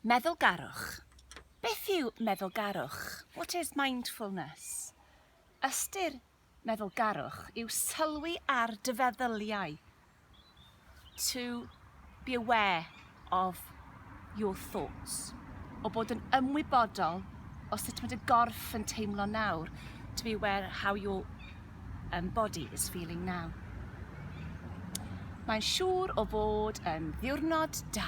Meddwlgarwch Beth yw meddwlgarwch? What is mindfulness? Ystyr meddwlgarwch yw sylwi ar dy feddyliau, to be aware of your thoughts, o bod yn ymwybodol o sut mae dy gorff yn teimlo nawr, to be aware how your um, body is feeling now. Mae'n siŵr o fod yn ddiwrnod da.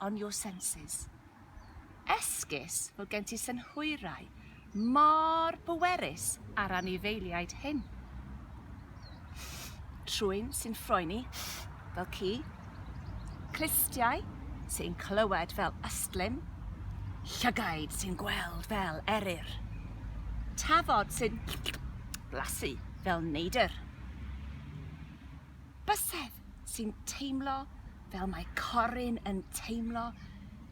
on your senses. Esgus fod gen ti synhwyrau mor bwerus ar anifeiliaid hyn. Trwyn sy'n ffroeni fel ci, clustiau sy'n clywed fel ystlum, llygaid sy'n gweld fel eryr, tafod sy'n blasu fel neidr. Bysedd sy'n teimlo fel mae Corin yn teimlo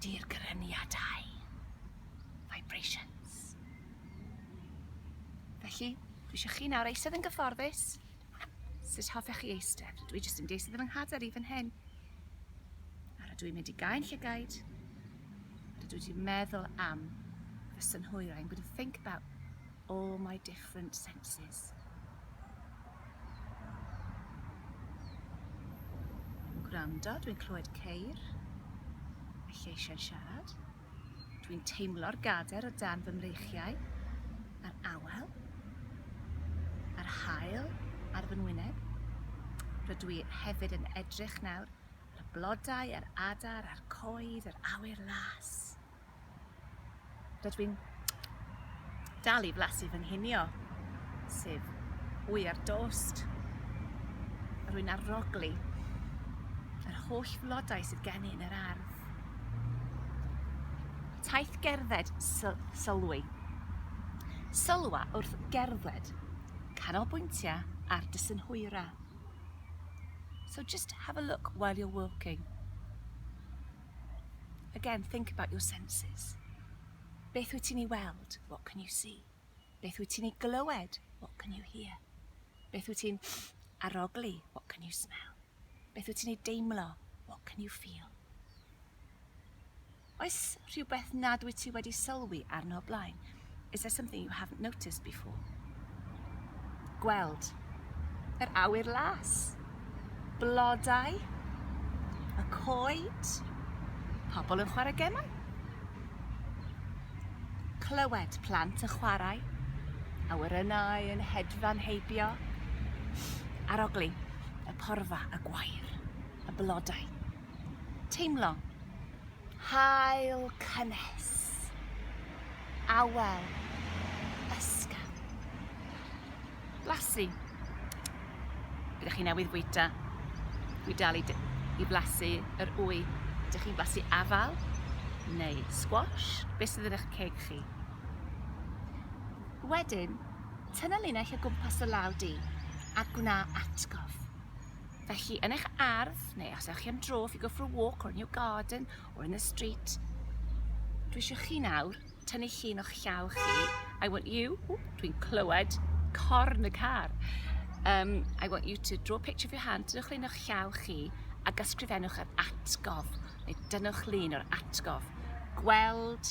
dirgryniadau. Vibrations. Felly, dwi eisiau chi nawr eistedd yn gyfforddus. Sut hoffech chi eistedd? Dwi jyst yn deistedd yn fy nghader i fan hyn. A rydw i'n mynd i gael llygaid. Rydw i wedi meddwl am fy synhwyrau. I'm going to think about all my different senses. Yn gwrando, dwi'n clywed ceir, a lleisiau'n siarad. Dwi'n teimlo'r gader o dan fy mreichiau, a'r awel, a'r hael ar fy ngwyneb. Rydw i hefyd yn edrych nawr ar y blodau, a'r adar, a'r coed, yr awyr las. Rydw i'n dal i blasu fy nghinio, sef wy ar dost. Rwy'n arogli yr holl flodau sydd gen i yn yr ardd. Taith gerdded syl sylwi. Sylwa wrth gerdded, canolbwyntiau ar dy synhwyra. So just have a look while you're walking. Again, think about your senses. Beth wyt ti'n ei weld? What can you see? Beth wyt ti'n ei glywed? What can you hear? Beth wyt ti'n arogli? What can you smell? Beth wyt ti'n ei deimlo? What can you feel? Oes rhywbeth nad wyt ti wedi sylwi arno blaen? Is there something you haven't noticed before? Gweld. Yr awyr las. Blodau. Y coed. Pobl yn chwarae gemau. Clywed plant yn chwarae. Awyrennau yn hedfan heibio. Arogli. Y porfa, y gwair, y blodau. Teimlo. Haul cynnes. Awel. Ysgaw. Blasu. Byddwch chi newydd fwyta. Dwi dal i, i blasu yr wy. Dych chi'n blasu afal neu squash? Beth sydd yn eich ceg chi? Wedyn, tynnu linell o gwmpas y law di a gwna atgof. Felly, yn eich ardd, neu os ewch chi am dro, if you go for a walk or in your garden or in the street, dwi eisiau chi nawr tynnu llun o'ch llaw chi. I want you, dwi'n clywed corn y car. Um, I want you to draw a picture of your hand, dynwch llun o'ch llaw chi, a gysgrifennwch yr atgof, neu dynwch llun o'r atgof. Gweld,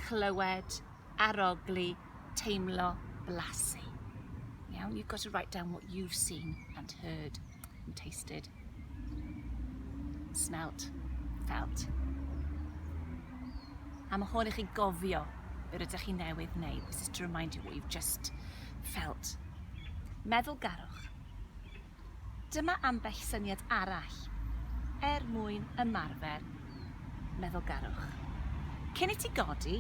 clywed, arogli, teimlo, blasu. Iawn, you've got to write down what you've seen and heard and tasted. Smelt, felt. A mae hwn i chi gofio yr ydych chi newydd wneud. This is to remind you what you've just felt. Meddwl garwch. Dyma ambell syniad arall er mwyn ymarfer meddwlgarwch. Cyn i ti godi,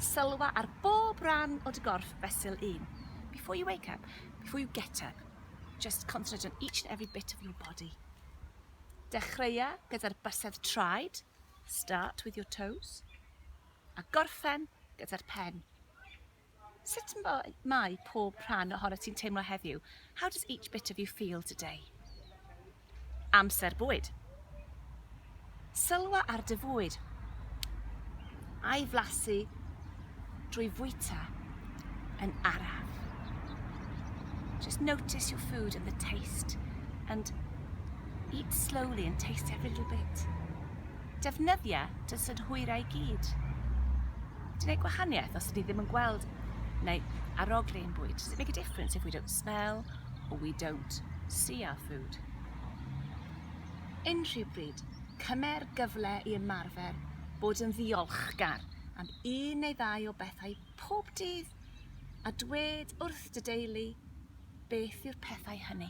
sylwa ar bob rhan o dy gorff fesul un. Before you wake up, before you get up, just concentrate on each and every bit of your body. Dechreua gyda'r bysedd traed, start with your toes, a gorffen gyda'r pen. Sut mae pob rhan ohono ti'n teimlo heddiw? How does each bit of you feel today? Amser bwyd. Sylwa ar dy fwyd. A'i flasu drwy fwyta yn araf. Just notice your food and the taste and eat slowly and taste every little bit. Defnyddia dy synhwyrau i gyd. Ti'n neud gwahaniaeth os ydi ddim yn gweld neu arogli ein bwyd. Does it make a difference if we don't smell or we don't see our food? Unrhyw bryd, cymer gyfle i ymarfer bod yn ddiolchgar am un neu ddau o bethau pob dydd a dwed wrth dy deulu beth yw'r pethau hynny.